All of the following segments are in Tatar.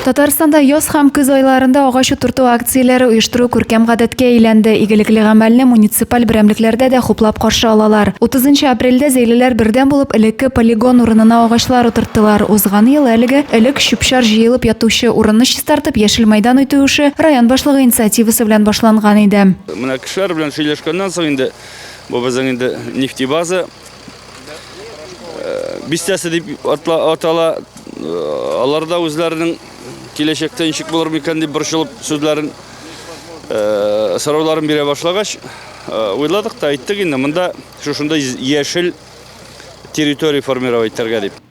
Татарстанда яз һәм көз айларында агач утырту акцияләре оештыру күркәм гадәткә әйләнде. Игелекле гамәлне муниципаль берәмлекләрдә дә хуплап каршы алалар. 30 нчы апрельдә Зәйлеләр бердәм булып элекке полигон урынына агачлар утырттылар. Узган ел әлеге, элек чүп-чар җыелып ятучы, урынны чистартып, яшел мәйдан итү эше район башлыгы инициативасы белән башланган иде. Менә кешеләр белән сөйләшкәннән соң инде, бу безнең инде нефтебаза. бистәсе дип атала. Алар да үзләренең киләчәктә ничек булыр микән дип борчылып сүзләрен сорауларын бирә башлагач, уйладык та әйттек инде, монда шушында яшел территория формировать итәргә дип.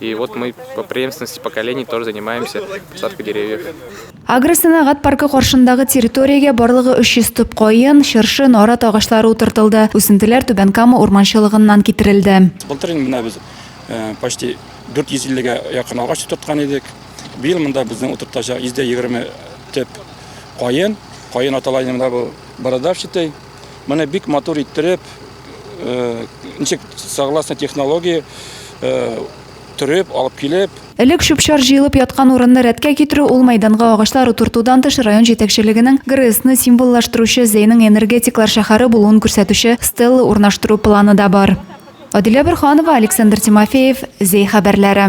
И вот мы по преемственности поколений тоже занимаемся посадкой деревьев. Агросәнәгать паркы каршындагы территориягә барлыгы 300 төп каен, чыршы, нарат агачлары утыртылды. Үсентеләр Түбән Кама урманчылыгыннан китерелде. Былтыр инде менә без э, почти 450-гә якын агач утырткан идек. Быел монда безнең утыртачак 120 төп каен. Каен аталайында бу бородавчатый, Моны бик матур иттереп, э, ничек согласно технологии э, төреп, алып килеп, Элек чүп-чар җыелып яткан урынны рәткә китерү, ул мәйданга агачлар утыртудан тыш район җитәкчелегенең ГРЭСны символлаштыручы Зәйнең энергетиклар шәһәре булуын күрсәтүче стелла урнаштыру планы да бар. Адилә Борханова, Александр Тимофеев, Зәй хәбәрләре.